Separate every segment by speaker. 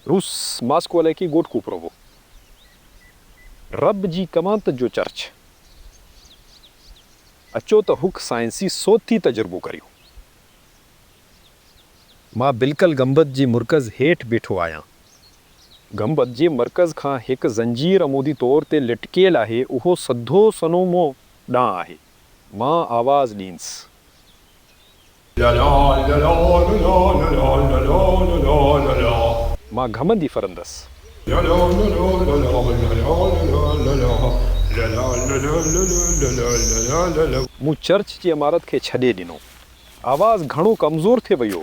Speaker 1: روس ماسڪو علائقي گوٽڪو پروو رب جي ڪوانت جو چرچ اچو ته هڪ سائنسي صوتي تجربو ڪريون. مان بلڪل گنبد جي مرڪز هيٺ بيٺو آهيان. گنبد جي مرڪز کان هڪ زنجير عمودي طور تي لٽڪيل آهي اهو سڌو سنو مون ڏانهن آهي. مان آواز ڏينس. مان گهمندي ڦرندس. مون چرچ جي عمارت کي ڇڏي ڏنو. آواز گهڻو ڪمزور ٿي ويو.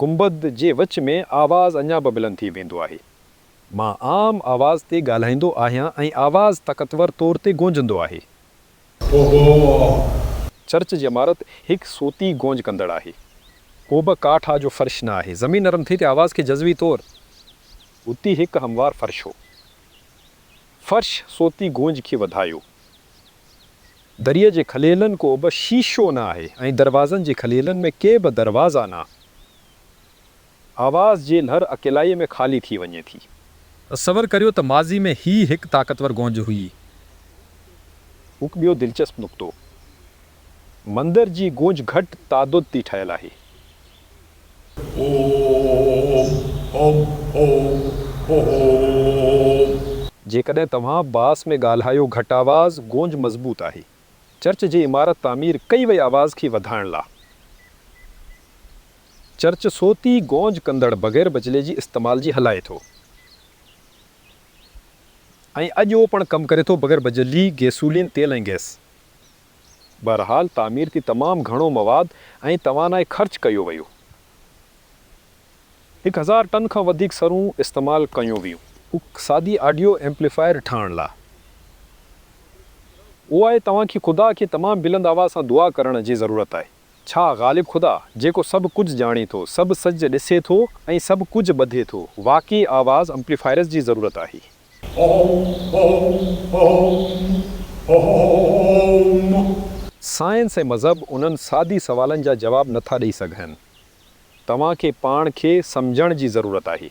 Speaker 1: گنبد جي وچ ۾ آواز اڃا به بلند ٿي ويندو آهي. مان عام آواز تي ڳالهائيندو آهيان ۽ آواز طاقتور طور تي گونجندو آهي. ڪوبه. چرچ جي عمارت هڪ صوتي گونج ڪندڙ آهي. ڪوبه ڪاٺ آ جو فرش نه آهي. زمين نرم ٿي ته آواز کي جزوي طور. اتي هڪ هموار فرش هو. فرش صوتي گونج کي وڌايو. دريء جي کليلن ڪو به شيشو نه آهي ۽ دروازن جي کليلن ۾ ڪي به دروازا نه آواز جي لھر اڪيلائيء ۾ خالي ٿي وڃي ٿي. تصور ڪريو
Speaker 2: ته ماضي ۾ هي هڪ طاقتور گونج هئي.
Speaker 1: هڪ ٻيو دلچسپ نقطو مندر جي گونج گهٽ تعدد تي ٺهيل آهي. جيڪڏهن توهان باس ۾ ڳالهايو گهٽ آواز گونج مضبوط آهي چرچ جي عمارت تعمير ڪئي وئي آواز کي وڌائڻ لا چرچ صوتي گونج ڪندڙ بغير بجلي جي استعمال جي هلائي ٿو ۽ اڄ اهو پڻ ڪم ڪري ٿو بغير بجلي گيسولين تيل ۽ گئس. بهرحال تعمير تي تمام گهڻو مواد ۽ توانائي خرچ ڪيو ويو. هڪ هزار ٽن کان وڌيڪ سرون استعمال ڪيون ويون. هڪ سادي آڊيو ايمپليفائر ٺاهڻ لا اهو آهي توهان کي خدا کي تمام بلند آواز سان دعا ڪرڻ جي ضرورت آهي. ڇا غالب خدا جيڪو سڀ ڪجهه ڄاڻي ٿو، سڀ سجهه ڏسي ٿو ۽ سڀ ڪجهه ٻڌي ٿو، واقعي آواز امپليفائرز جي ضرورت آهي. هوم. سائنس ۽ مذهب انهن سادي سوالن جا جواب نٿا ڏئي سگهن. توهان کي پاڻ کي سمجهڻ جي ضرورت آهي.